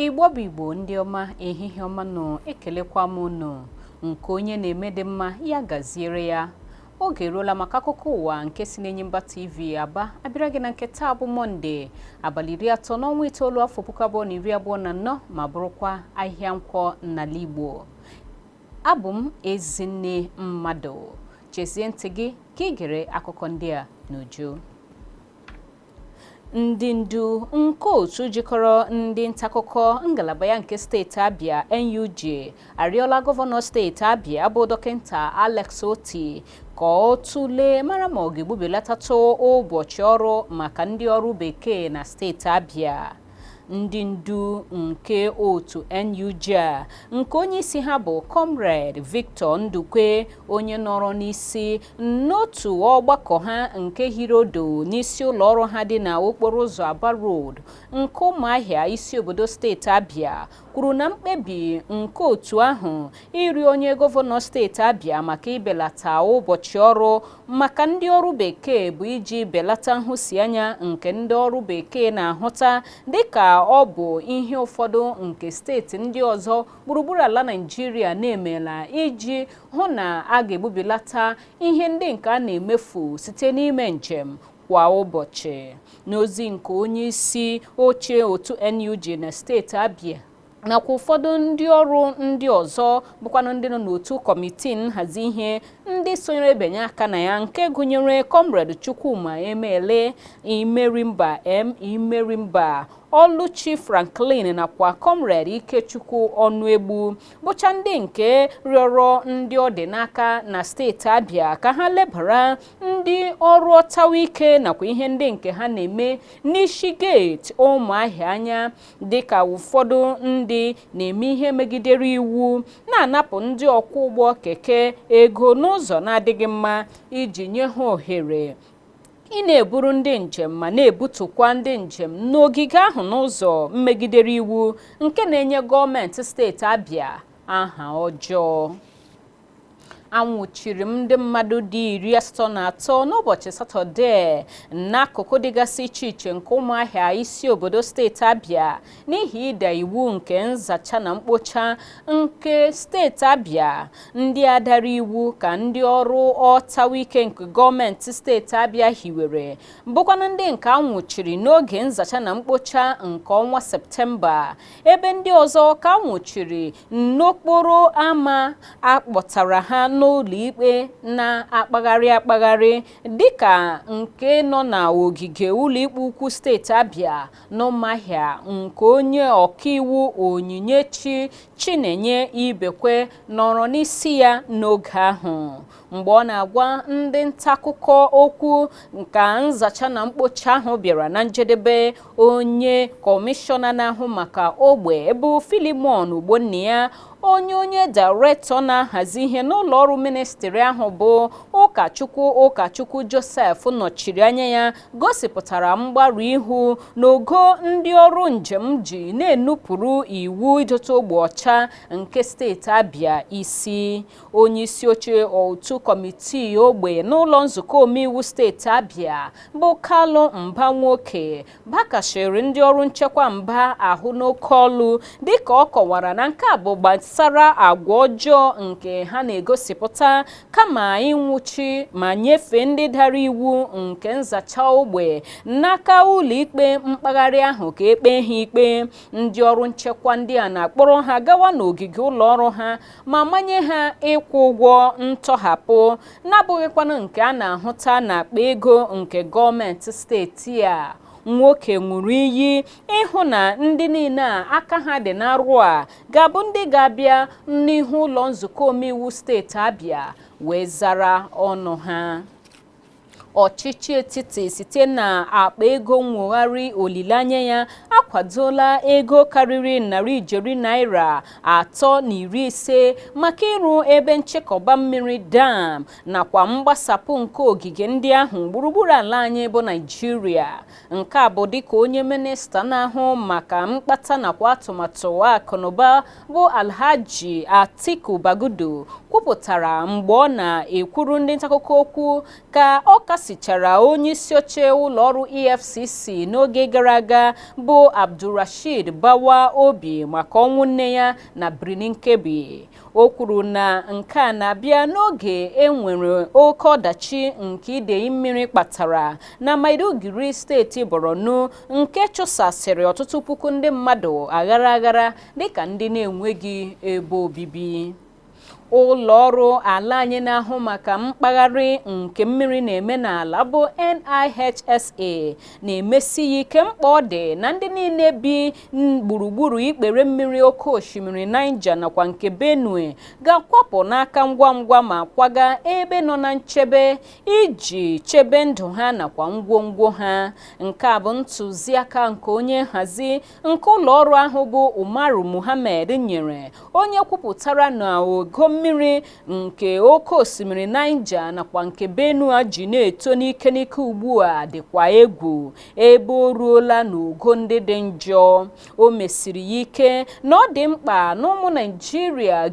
igbo bụ igbo ndị ọma ehihie ọma nụ ekelekwa m unu nke onye na-eme dị mma ya gaziere ya oge eruola maka akụkọ ụwa nke si n'enyimba tv aba abịara gị na nke taa bụ mọnde abalị iri atọ n'ọnwa itoolu afọ puku abụọ na iri abụọ na anọ ma bụrụkwa ahịa nkwọ n'ala igbo abụ m ezinne mmadụ chezie ntị gị ka ị gere akụkọ ndị a n'uju ndị ndu nke otu jikọrọ ndị ntakụkọ ngalaba ya nke steeti Abia NUJ arịọla gọvanọ steeti Abia bụ dọkịta Alex Oti ka ọ tụlee mara ma ọ ga-egbubilatatụ ụbọchị ọrụ maka ndị ọrụ bekee na steeti Abia ndị ndu nke otu NUJ a nke onye isi ha bụ Comrade Victor Ndukwe onye nọrọ n'isi n'otu ọgbakọ ha nke hiri odo n'isi ụlọ ọrụ ha dị na okporo ụzọ Aba Road nke Ụmụahịa isi obodo steeti Abia kwuru na mkpebi nke otu ahụ ịrịọ onye gọvanọ steeti Abia maka ibelata ụbọchị ọrụ maka ndị ọrụ bekee bụ iji belata nhụsianya nke ndị ọrụ bekee na-ahụta dịka ọ bụ ihe ụfọdụ nke steeti ndị ọzọ gburugburu ala Naịjirịa na-emela iji hụ na a ga-egbubilata ihe ndị nke a na-emefu site n'ime njem kwa ụbọchị n'ozi nke onye isi oche otu NUJ na steeti Abia nakwa ụfọdụ ndị ọrụ ndị ọzọ bụkwanụ ndị nọ n'otu kọmitii nhazi ihe ndị sonyere ebinye aka na ya nke gụnyere kọmred Chukwuma Emele Imerimba M Imerimba Ọlụchi Franklin nakwa kọmred Ikechukwu Ọnụegbu bụcha ndị nke rịọrọ ndị ọ dị n'aka na steeti Abia ka ha lebara ndị ọrụ ọtawa ike nakwa ihe ndị nke ha na-eme n'isi geeti ụmụahịa anya dịka ụfọdụ ndị na-eme ihe megidere iwu na-anapụ ndị ọkwọ ụgbọ keke ego n'ụzọ na-adịghị mma iji nye ha ohere ị na-eburu ndị njem ma na-ebutukwa ndị njem n'ogige ahụ n'ụzọ megidere iwu nke na-enye gọọmenti steeti Abia aha ọjọọ a nwụchiri ndị mmadụ dị iri asatọ na atọ n'ụbọchị satọde n'akụkụ dịgasị iche iche nke ụmụahịa isi obodo steeti abia n'ihi ịda iwu nke nzacha na mkpocha nke steeti abia ndị a dara iwu ka ndị ọrụ ọtawa ike nke gọọmenti steeti abia hiwere bụkwanụ ndị nke a nwụchiri n'oge nzacha na mkpocha nke ọnwa septemba ebe ndị ọzọ ka anwụchiri n'okporo ama akpọtara ha n'ụlọikpe na-akpagharị akpagharị dịka nke nọ na ogige ụlọikpe ukwu steeti Abia n'Ụmụahịa nke onye ọkaiwu Onyinyechi Chinenye Ibekwe nọrọ n'isi ya n'oge ahụ mgbe ọ na-agwa ndị ntaakụkọ okwu ka nzacha na mkpocha ahụ bịara na njedebe onye kọmishọna na-ahụ maka ogbe bụ Philemon Ogbonnia onye onye dairektọ na-ahazi ihe n'ụlọ ọrụ ministri ahụ bụ ụkọchukwu ụkọchukwu Joseph nọchiri anya ya gosipụtara mgbarụ ihu n'ogo ndị ọrụ njem ji na-enupụrụ iwu idote ogbe ọcha nke steeti Abia isi onye isi oche otu kọmitii ogbe n'ụlọ nzukọ omeiwu steeti Abia bụ Kalu Mba Nwoke bakashiri ndị ọrụ nchekwa mba ahụ n'oke olu dịka ọ kọwara na nke a bụ gbasara agwa ọjọọ nke ha na-egosipụta kama ịnwụchi ma nyefee ndị dara iwu nke nzacha ogbe n'aka ụlọikpe mkpagharị ahụ ka e kpee ha ikpe ndị ọrụ nchekwa ndị a na-akpọrọ ha gawa n'ogige ụlọ ọrụ ha ma manye ha ịkwụ ụgwọ ntọhapụ na-abụghịkwanụ nke a na-ahụta n'akpa ego nke gọọmenti steeti a Nwoke ṅụrụ iyi ịhụ na ndị niile a aka ha dị n'arụ a ga-abụ ndị ga-abịa n'ihu ụlọ nzukọ omeiwu steeti Abia wee zara ọnụ ha ọchịchị etiti site na akpa ego nwogharị olileanya ya akwadola ego karịrị narị ijeri naira atọ na iri ise maka ịrụ ebe nchekọba mmiri dam nakwa mgbasapụ nke ogige ndị ahụ gburugburu ala anyị bụ Naịjirịa Nke a bụ dịka onye minista na-ahụ maka mkpata nakwa atụmatụ akụnụba bụ Alhaji Atiku Bagudu kwupụtara mgbe ọ na-ekwuru ndị ntaakụkọ okwu ka ọ kasichara onye isi oche ụlọọrụ EFCC n'oge gara aga bụ Abdulrasheed Bawa obi maka ọnwụ nne ya na Birnin Kebbi. o kwuru na nke a na-abịa n'oge e nwere oke ọdachi nke idei mmiri kpatara na Maiduguri steeti Borno nke chụsasịrị ọtụtụ puku ndị mmadụ aghara aghara dịka ndị na-enweghị ebe obibi ụlọ ọrụ ala anyị na-ahụ maka mkpagharị nke mmiri na-eme n'ala bụ NIHSA na-emesi ya ike mkpa ọ dị na ndị niile bi gburugburu ikpere mmiri oke osimiri Niger nakwa nke Benue ga-akwapụ n'aka ngwa ngwa ma kwaga ebe nọ na nchebe iji chebe ndụ ha nakwa ngwongwo ha nke a bụ ntụziaka nke onye nhazi nke ụlọ ọrụ ahụ bụ Umaru Muhammed nyere onye kwupụtara na ogo mmiri nke oke osimiri Niger nakwa nke Benue ji na-eto n'ike n'ike ugbu a dịkwa egwu ebe o ruola n'ogo ndị dị njọ o mesiri ya ike na ọ dị mkpa na ụmụ naijiria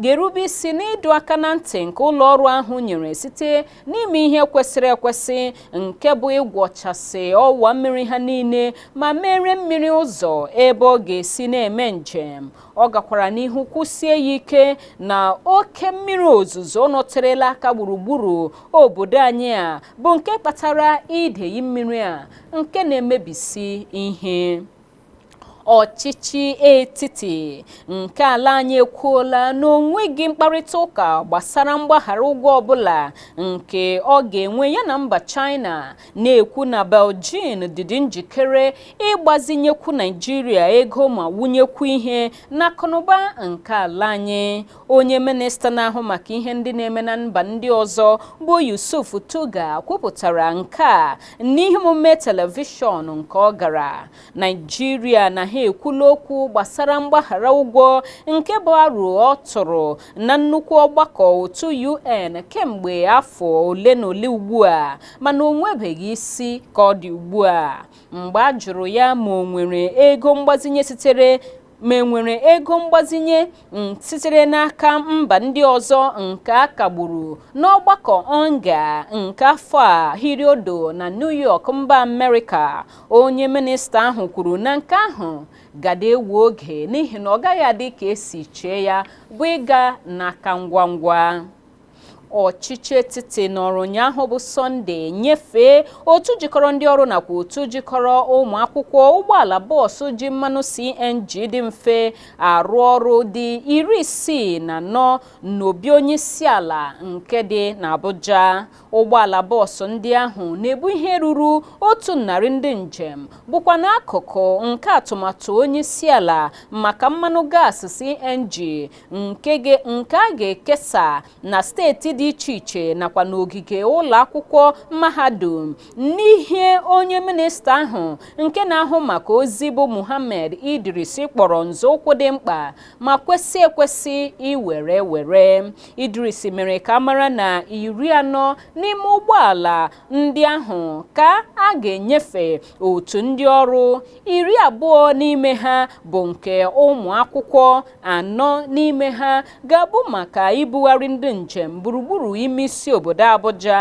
ga-erube isi n'ịdọ aka na ntị nke ụlọ ọrụ ahụ nyere site n'ime ihe kwesịrị ekwesị nke bụ ịgwọchasị ọwa mmiri ha niile ma meere mmiri ụzọ ebe ọ ga-esi na-eme njem ọ gakwara n'ihu kwusie ya ike na oke mmiri ozuzo nọterela aka gburugburu obodo anyị a bụ nke kpatara idei mmiri a nke na-emebisi ihe ọchịchị etiti nke ala anyị ekwuola na o nweghị mkparịta ụka gbasara mgbaghara ụgwọ ọbụla nke ọ ga-enwe ya na mba China na-ekwu na Beijing dịdị njikere ịgbazinyekwu Naijiria ego ma wụnyekwu ihe n'akụnụba nke ala anyị onye minista na-ahụ maka ihe ndị na-eme na mba ndị ọzọ bụ Yusuf Tuggar kwupụtara nke a n'ihe omume telivishọn nke ọ gara Naijiria na ha ekwula okwu gbasara mgbaghara ụgwọ nke bụ aro ọ tụrụ na nnukwu ọgbakọ otu UN kemgbe afọ ole na ole ugbu a mana o nwebeghị isi ka ọ dị ugbu a mgbe a jụrụ ya ma o nwere ego mgbazinye sitere n'aka mba ndị ọzọ nke a kagburu n'ọgbakọ UNGA nke afọ a hiri odo na New York mba Amerịka onye minista ahụ kwuru na nke ahụ gadị ewe oge n'ihi na ọ gaghị adị ka e si chee ya bụ ịga n'aka ngwa ngwa ọchịchị etiti nọrọ ụnyaahụ bụ sọnde nyefee otu jikọrọ ndị ọrụ nakwa otu jikọrọ ụmụ akwụkwọ ụgbọala bọọsụ ji mmanụ cng dị mfe arụ ọrụ dị iri isii na anọ n'obi onye isi ala nke dị n'abuja ụgbọala bọọsụ ndị ahụ na-ebu ihe ruru otu narị ndị njem bụkwa n'akụkụ nke atụmatụ onye isi ala maka mmanụ gaasị cng nke a ga-ekesa na steeti dị iche iche nakwa n'ogige ụlọ akwụkwọ mahadum n'ihe onye minista ahụ nke na-ahụ maka ozi bụ Muhammad Idris kpọrọ nzọụkwụ dị mkpa ma kwesị ekwesị iwere ewere Idris mere ka a mara na iri anọ n'ime ụgbọala ndị ahụ ka a ga-enyefe otu ndị ọrụ iri abụọ n'ime ha bụ nke ụmụ akwụkwọ anọ n'ime ha ga-abụ maka ibugharị ndị njem gburugburu ime isi obodo Abuja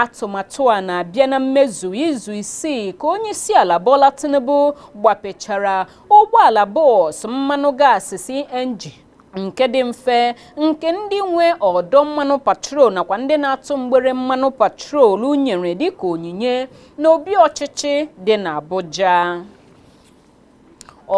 atụmatụ a na-abịa na mmezu izu isii ka onye isi ala Bola Tinubu gbapechara ụgbọala bọs mmanụ gaasị CNG nke dị mfe nke ndị nwe ọdọ mmanụ petrol nakwa ndị na-atụ mgbere mmanụ petrol nyere dịka onyinye n'obi ọchịchị dị n'Abuja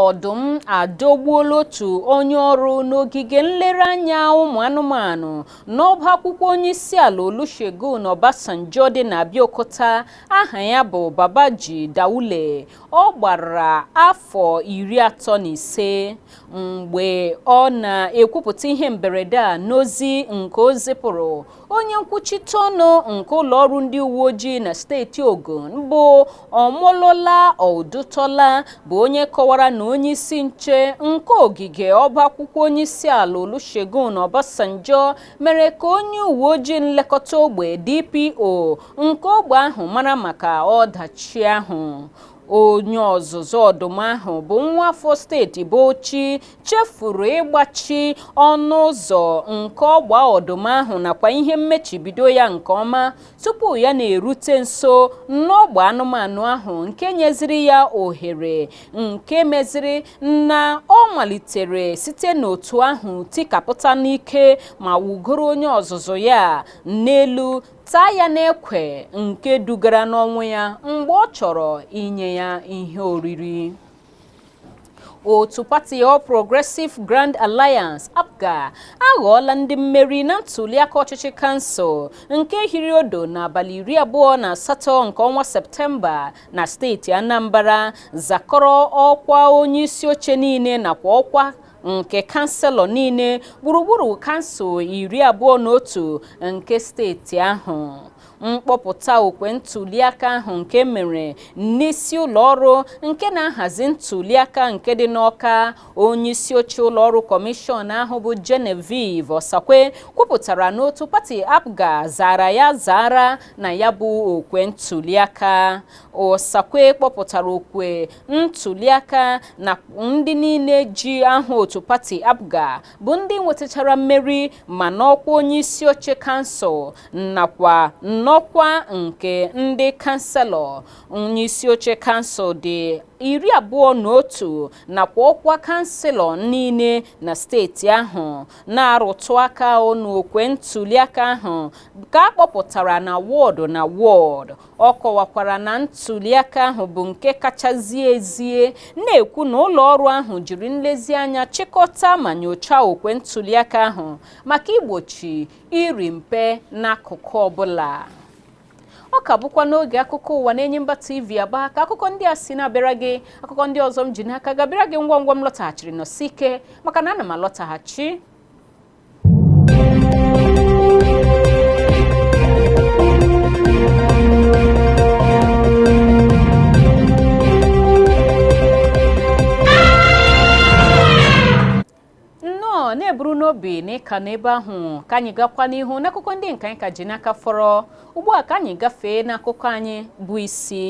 ọdụm adọgbuola otu onye ọrụ n'ogige nlereanya ụmụ anụmanụ n'ọba akwụkwọ onyeisiala Olusegun Obasanjo dị n'Abeokuta aha ya bụ Babaji Daule ọ gbara afọ iri atọ na ise mgbe ọ na-ekwupụta ihe mberede a n'ozi nke o zipụrụ onye nkwuchite ọnụ nke ụlọ ọrụ ndị uwe ojii na steeti Ogun bụ Omolola Odutola bụ onye kọwara na onye isi nche nke ogige ọba akwụkwọ onye isi ala Olusegun Obasanjo mere ka onye uwe ojii nlekọta ogbe DPO nke ogbe ahụ mara maka ọdachi ahụ onye ọzụzụ ọdụm ahụ bụ nwa afọ steeti Bauchi chefuru ịgbachi ọnụ ụzọ nke ọgba ọdụm ahụ nakwa ihe mmechibido ya nke ọma tupu ya na-erute nso n'ọgba anụmanụ ahụ nke nyeziri ya ohere nke meziri na ọ malitere site n'otu ahụ tikapụta n'ike ma wụgoro onye ọzụzụ ya n'elu taa ya n'ekwe nke dugara n'ọnwụ ya mgbe ọ chọrọ inye ya ihe oriri otu pati All Progressive Grand Alliance APGA aghọọla ndị mmeri na ntuliaka ọchịchị kansụl nke hiri odo n'abalị iri abụọ na asatọ nke ọnwa Septemba na steeti Anambra zakọrọ ọkwa onye isi oche niile nakwa ọkwa nke kanselọ niile gburugburu kansụl iri abụọ na otu nke steeti ahụ mkpọpụta okwe ntuliaka ahụ nke mere n'isi ụlọ ọrụ nke na-ahazi ntuliaka nke dị n'Ọka onye isi oche ụlọ ọrụ kọmishọn ahụ bụ Genevieve Osakwe kwupụtara na otu pati APGA zara ya zara na ya bụ okwe ntuliaka Osakwe kpọpụtara okwe ntuliaka na ndị niile ji aha otu pati APGA bụ ndị nwetachara mmeri ma n'ọkwa onye isi oche kansụl nakwa n'ọkwa nke ndị kanselọ onye isi oche kansụl dị iri abụọ na otu nakwa ọkwa kanselọ niile na steeti ahụ na-arụtụ aka n'okwe ntuliaka ahụ ka a kpọpụtara na wọdụ na wọdụ ọ kọwakwara na ntuliaka ahụ bụ nke kacha zie ezie na-ekwu na ụlọ ọrụ ahụ jiri nlezianya chịkọta ma nyochaa okwe ntuliaka ahụ maka igbochi iri mpe n'akụkụ ọbụla ọ ka bụkwa n'oge akụkọ ụwa n'enyimba tv aba ka akụkọ ndị a si na-abịara gị akụkọ ndị ọzọ m ji n'aka ga-abịara gị ngwa ngwa m lọtaghachiri nọsi ike maka na ana m alọtaghachi na-eburu n'obi na ị ka nọ ebe ahụ ka anyị gakwa n'ihu n'akụkọ ndị nke anyị ka ji n'aka fọrọ ugbu a ka anyị gafee n'akụkọ anyị bụ isi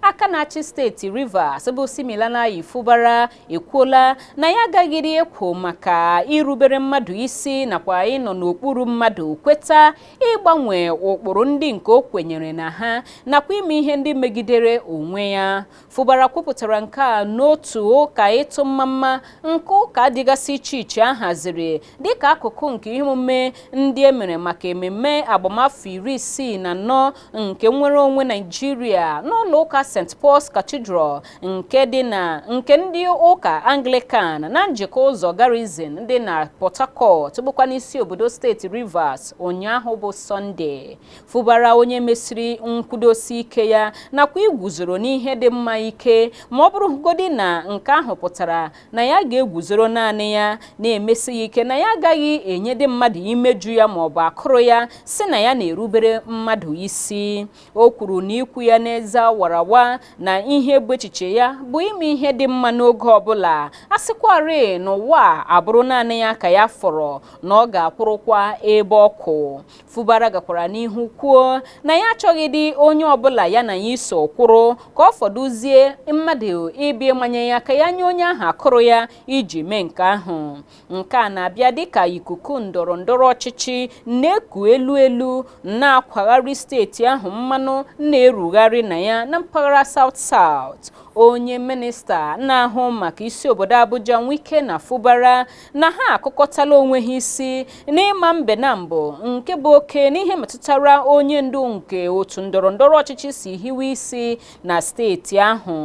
aka na-achị steeti Rivers bụ Siminalayi Fubara ekwuola na ya agaghịrị ekwo maka irubere mmadụ isi nakwa ịnọ n'okpuru mmadụ kweta ịgbanwe ụkpụrụ ndị nke o kwenyere na ha nakwa ime ihe ndị megidere onwe ya Fubara kwupụtara nke a n'otu ụka ịtụ mmamma nke ụka dịgasị iche iche a haziri dịka akụkụ nke ihe omume ndị e mere maka ememme agbamafọ iri isii na anọ nke nnwere onwe naijiria n'ụlọ ụka st paul's cathedral nke dị na nke ndị ụka anglican na njikọ ụzọ garrison dị na port harcourt bụkwanụ isi obodo steeti rivers ụnyaahụ bụ sọnde fubara onye mesiri nkwudosi ike ya nakwa iguzoro n'ihe dị mma ike ma ọ bụrụgodi na nke ahụ pụtara na ya ga-eguzoro naanị ya na-emesi ya ike na ya agaghị enyedị mmadụ imeju ya ma ọ bụ akụrụ ya sị na ya na-erubere mmadụ isi o kwuru na ikwu ya n'eze wara awa na ihe bụ echiche ya bụ ime ihe dị mma n'oge ọbụla a sịkwarị n'ụwa abụrụ naanị ya ka ya fọrọ na ọ ga-akwụrụkwa ebe ọ kwụ Fubara gakwara n'ihu kwuo na ya achọghịdị onye ọbụla ya na ya iso kwụrụ ka ọ fọdụzie mmadụ ịbịa ịmanye ya ka ya nye onye ahụ akụrụ ya iji mee nke ahụ nke a na-abịa dịka ikuku ndọrọ ndọrọ ọchịchị na-eku elu elu na-akwagharị steeti ahụ mmanụ na-erugharị na ya na mpaghara South South onye minista na-ahụ maka isi obodo Abuja Wike na Fubara na ha akụkọtala onwe ha isi n'ịma mbe naabọ nke bụ oke n'ihe metụtara onye ndu nke otu ndọrọ ndọrọ ọchịchị si hiwe isi na steeti ahụ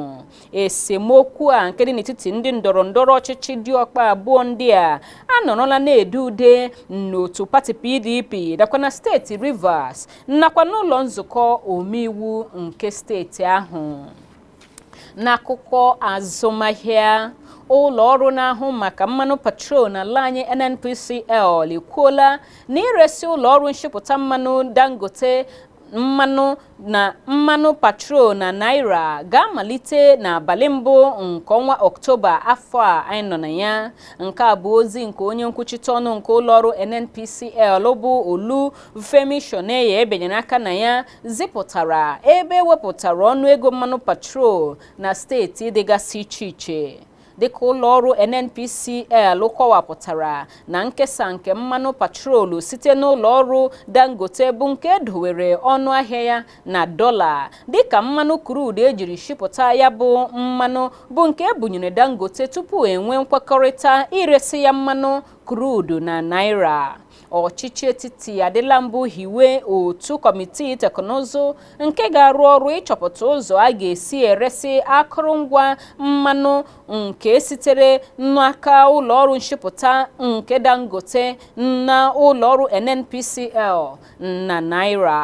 esemokwu a nke dị n'etiti ndị ndọrọ ndọrọ ọchịchị diọkpa abụọ ndị a anọrọla na-ede ude n'otu pati PDP nakwa na steeti Rivers nakwa n'ụlọ nzukọ omeiwu nke steeti ahụ n'akụkọ azụmahịa ụlọ ọrụ na-ahụ maka mmanụ petrol n'ala anyị NNPCL ekwuola na iresi ụlọ ọrụ nshipụta mmanụ Dangote mmanụ petrol na naira ga-amalite n'abalị mbụ nke ọnwa ọktoba afọ a anyị nọ na ya nke a bụ ozi nke onye nkwuchite ọnụ nke ụlọọrụ NNPCL bụ Olufemi Soneye binyere aka na ya zipụtara ebe ewepụtara ọnụ ego mmanụ petrol na steeti dịgasị iche iche dịka ụlọ ọrụ NNPCL kọwapụtara na nkesa nke mmanụ petrolu site n'ụlọ ọrụ Dangote bụ nke edowere ọnụ ahịa ya na dọla dịka mmanụ crude ejiri shipụta ya bụ mmanụ bụ nke ebunyere Dangote tupu enwee nkwekọrịta iresi ya mmanụ crude na naira ọchịchị etiti adịla mbụ hiwe otu kọmitii teknụzụ nke ga-arụ ọrụ ịchọpụta ụzọ a ga-esi eresi akụrụngwa mmanụ nke sitere n'aka ụlọọrụ nshipụta nke Dangote na ụlọọrụ NNPCL na naira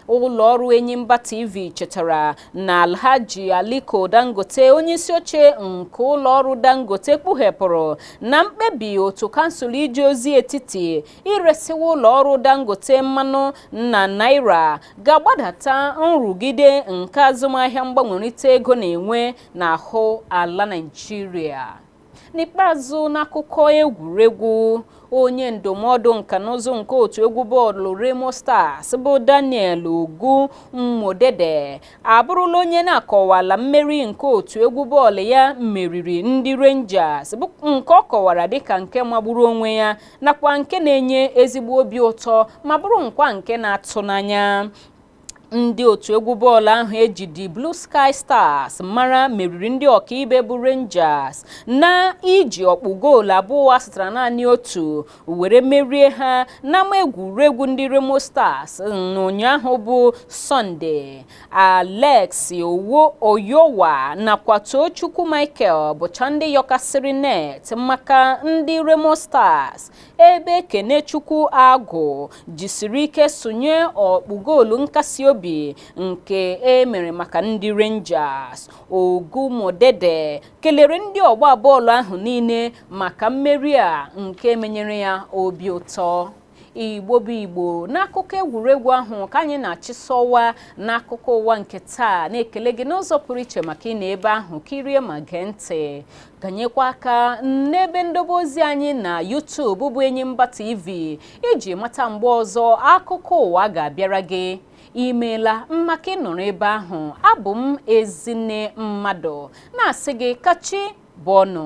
ụlọ ọrụ Enyimba TV chetara na Alhaji Aliko Dangote onye isi oche nke ụlọ ọrụ Dangote kpughepụrụ na mkpebi otu kansụl ije ozi etiti iresiwa ụlọ ọrụ Dangote mmanụ na naira ga-agbadata nrụgide nke azụmahịa mgbanwerịta ego na-enwe n'ahụ ala Naịjirịa n'ikpeazụ n'akụkọ egwuregwu onye ndụmọdụ nka na ụzụ nke otu egwu bọọlụ Remo Stars bụ Daniel Ogunmodede abụrụla onye na-akọwala mmeri nke otu egwu bọọlụ ya meriri ndị Rangers bụ nke ọ kọwara dịka nke magburu onwe ya nakwa nke na-enye ezigbo obi ụtọ ma bụrụkwa nke na-atụ n'anya ndị otu egwu bọọlụ ahụ eji The Blue Sky Stars mara meriri ndị ọkaibe bụ Rangers na iji ọkpụ goolu abụọ asatara naanị otu were merie ha n'ama egwuregwu ndị Remo Stars n'ụnyaahụ bụ Sọnde Alex Oyowah nakwa Tochukwu Michael bụcha ndị yọkasịrị net maka ndị Remo Stars ebe Kenechukwu Agụ jisiri ike sụnye ọkpụ goolu nkasi obi nke e mere maka ndị Rangers Ogunmodede kelere ndị ọgba bọọlụ ahụ niile maka mmeri a nke menyere ya obi ụtọ Igbo bụ Igbo n'akụkọ egwuregwu ahụ ka anyị na-achịsọwa n'akụkọ ụwa nke taa na-ekele gị n'ụzọ pụrụ iche maka ịnọ ebe ahụ kirie ma gee ntị kanyekwa aka n'ebe ndobe ozi anyị na YouTube bụ Enyimba TV iji mata mgbe ọzọ akụkọ ụwa ga-abịara gị imeela maka ịnọrọ ebe ahụ abụ m Ezinne Mmadụ na-asị gị ka chi bọọ nụ